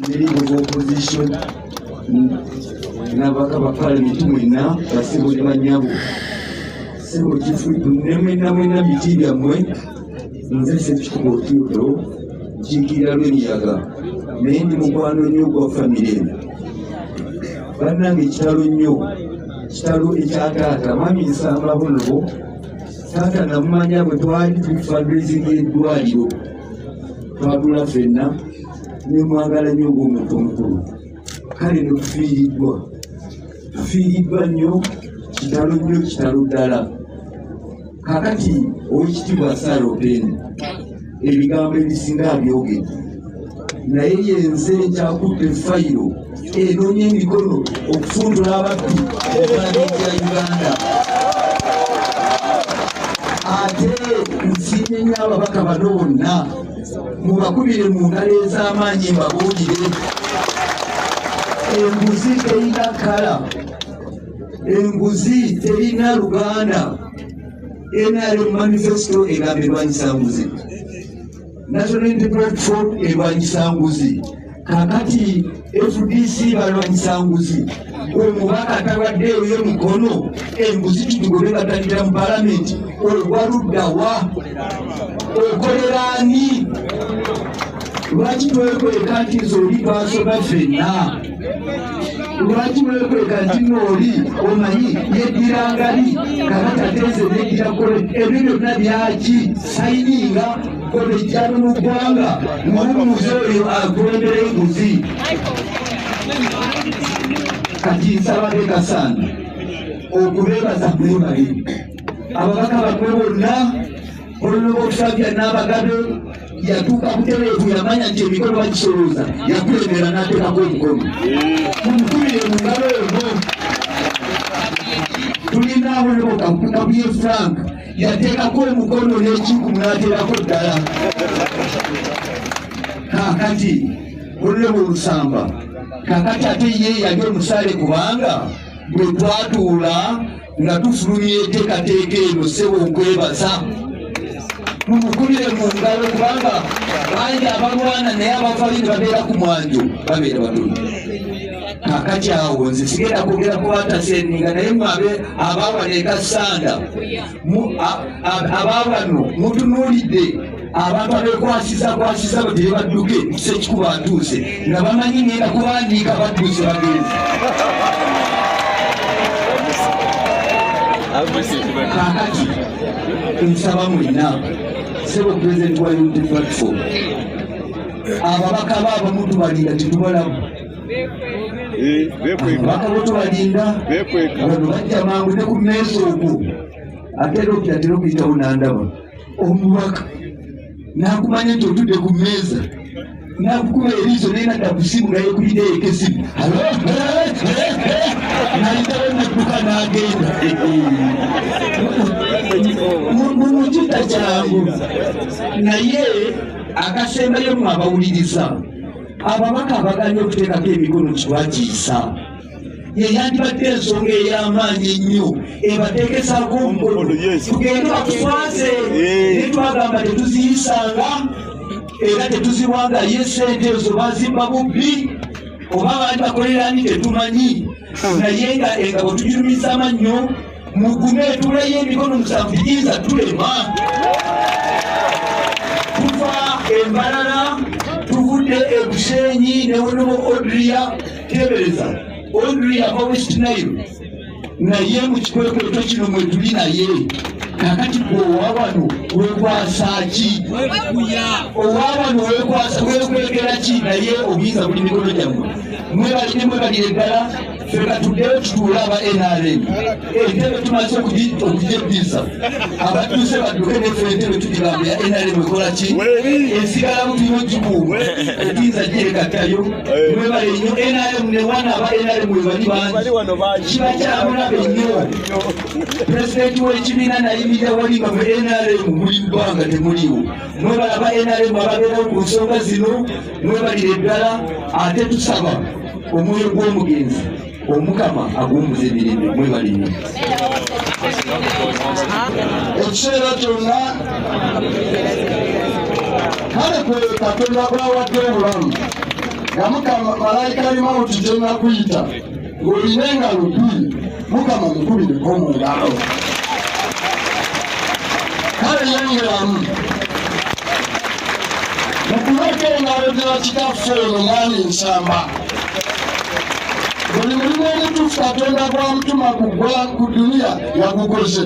neringo z'opposition nabaka ba palamenti mwena basibo ne banyabo sebo kifudu ne mwena mwena biti byammwe nze sekikuba otuudo nkiikirira lwemiyaga naye ndi mukwano nnyo ogwa famire eno bannange kitalo nnyo kitalo ekya taata mwami nsamba bunobo taata namumanya bwe twali tuli fundraising y'eddwaliro twagula fenna nemwagala nyo ngaomuntu omukulu kale notufiiriddwa tufiiriddwa nnyo kitalo nnyo kitalo ddala kakati owekitibwa sara openi ebigambo ebisinga abyogedde naye yenze nkyakudde fayiro enonya emikono okufundula ababbi ekifananyi kya uganda ate nsiimye nyo ababaka bano bonna mubakubire mu ngalo ez'amaanyi mbabuulire enguzi terina kala enguzi terina luganda nrm manifesto egamba erwanyisa nguzi National Unity Platform erwanyisa nguzi kakati fdc balwanyisa nguzi gwe mubaka atabadde eyo ye mukono enguzi kitugobe batandikira mu palamenti olwaluddawa okolera ani lwaki twekweka nti nze oli twasoma fenna lwaki mwekweka nti nooli omanyi yeddira ngali kabatateeze neddira kole ebyo byonna byaki sayininga kolejjano mu ggwanga muwumuzi oyo akulembera enguzi kati nsaba bekasaana okubeebaza mwebali ababaka bamwe bonna olulaba okusabya n'abagabe yatuuka butereevu yamanya nti emikolo bagisolooza yakulembera n'ateekako omukono mumukubire mu ngalo ono tulina awoloka kabuye frank yateekako omukono n'ekiku n'ateerako ddala kaakati olulebo olusamba kaakati ate ye yali omusaale kubanga bwe twatuula nga tufulumya enteekateeka eno sebo nkwebaza mumukubire mu ngalo kubanga bangi abalwana naye abavayo ne babeera ku mwanjo babeera batono kakati awo nze sigenda kwogera kubatasendinga naye mwabe abawano ekasanda abawano mutunuulidde abantu abekwasizakwasiza batere badduke kisa ekikuba atuuse nga bamanyi ngenda kubandiika badduuse bagenzi kakati nsaba mwena sebo president wa unity platform ababaka ba abamu tubalinda tetubalamu ababaka bo tubalinda bano bajja mangu ne ku meesa ogwo ate era okira tera okuyitawo nandaba omubaka nakumanya nti otudde ku mmeeza nakukuba eriiso naye nadda ku simu nga yekubidde yeko esimu nayitawo nadduka nagenda mumukita kyangu naye akasembayo mwe abawuliriza ababaka abaganye okuteekako emikono kiwakiisa yeyandibadde ensonga ey'amaanyi ennyo ebateekesaako omukono tugende batuswaze naye twagamba tetuziyisanga era tetuziwanga ye sente ezo bazimba bubbi oba baali bakolerani tetumanyi naye nga engabo tugirumiza mannyo mugume tuleyo emikono musanvu tiyinza tulema tuva embalala tuvudde ebusenyi newonemo odria tebereza odria ava west nile naye mukikwekweto kino mwetuli naye kakati gwe owabano wekwasa ki owabano wekwasa wekwekera ki naye obuyinza buli mikono gyammwe mwebalire mwebalire ddala fena tuddeyo tutuule aba nrm entebe tumaze okujebbiza abatuuse badduke nefe entebe tugigamba ya nrm ekola ki esigalamu tuyo gikuumu etinza gyekattayo mwebale nnyo nrm newana aba nrm webali bangi kiba kyabulabe nnyo pulezidenti w'ekibiina nayimirira wali nga mu nrm muli bbanga temuliwo mwebale aba nrm ababeerawo ku nsonga zino mwebalire ddala ate tusaba omwoyo gw'omugenzi omukama aguwumuza emirembe mwebali nnyo ekiseera kyonna kale kwe katonda gwawadde obulamu nga mukama malayika alimawuti gyenakuyita ng'olina engalo bbiri mukama mukubireko mu ngalo kale yongeramu mukuleka engalo gya kitaffe oyo mwami nsamba buli mulimu omutuufu katonda gwamutuma kugwa ku duniya yagukoze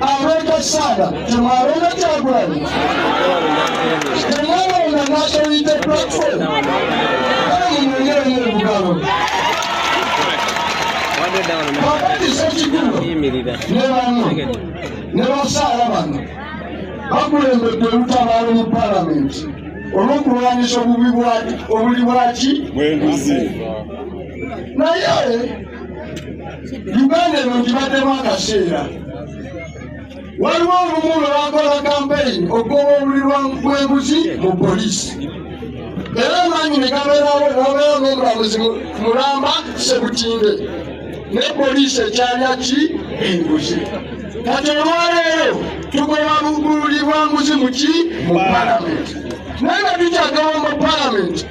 Alonda Ssaala temwalonda Kyagulanyi temwalonda nationality platform kale munyonyere nyo ebugalo wakati sekigulo ne bano ne basaala bano bakulembedde olutabaalo mu palamenti olw'okulwanyisa obubi obuli bwaki bwenguzi naye uganda eno ngibaddemu akaseera waliwo olumu lwe bakola kampeyini okugoba obuli bw'enguzi mu poliisi era amaanyi ne gabeerawo nobeera n'omulamuzi mulamba sebutinde ne poliisi ekyalya ki enguzi kati olwaleero tugoba bugululi bwa nguzi mu ki mu palamenti naye nga tukyagawo mu palamenti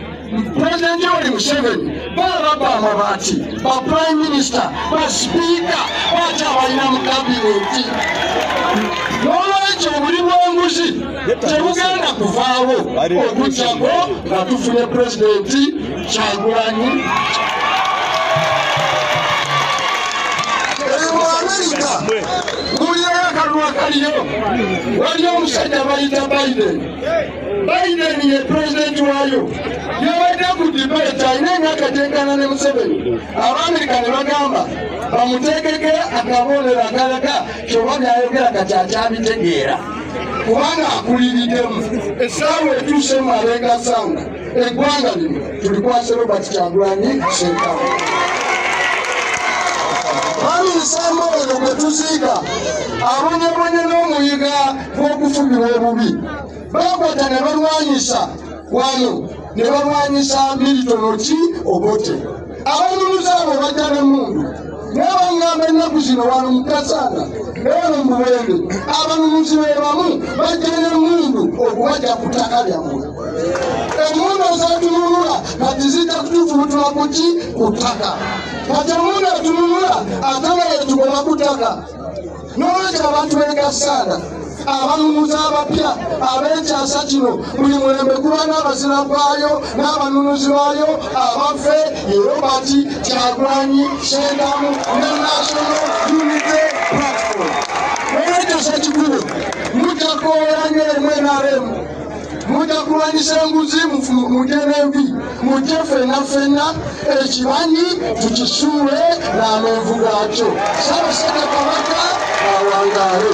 President Yoweri Museveni balababba amabaati ba prime minister ba sipiika bakyabalina mu kabineti n'olwekyo buli bw'enguzi tebugenda kuvaawo okujjako nga tufunye pulezidenti kyagulanyi waliyo omusajja bayita biden Biden ye pulezidenti waayo yabadde ku debate alina emyaka gyenkana ne Museveni abaamerika ne bagamba bamuteekeko akaboolero akalaga kyoba byayogera kati akyabitegeera kubanga akuliridemu essaawa etuuse mu abeegasanga eggwanga lino tulikwasa robert kyagulanyi sentamu baminsamba oyo gwe tuziika abonyebonye n'omuyiga gw'okufugirwa obubi bakwata ne balwanyisa wano ne balwanyisa militono ki obote abanyumuza abo bajja nemundu naye bangamba ennaku zino wano mukasaana newano mubuwembe abanumuzi be bamu bajja nemundu okubajja ku ttaka lyammwe emundu ezatununula kati zijja kutuvubutula kuki ku ttaka kati emundu etununula atala yetugoma ku ttaka n'olwekyo abantu begasaana abanunuzi abapya ab'ekyasa kino buli mulembe kuba n'abazira gwayo n'abanunuzi baayo abaffe ye robert kyagulanyi sendamu ne national unity platform olwekyo sekikulu mujja kwowera nyo emu enaremu mujja kulwanyisa enguzi mugenevi mujje fena fena ekibanyi tukisuule n'amenvu gakyo sabasajja kabaka awangaale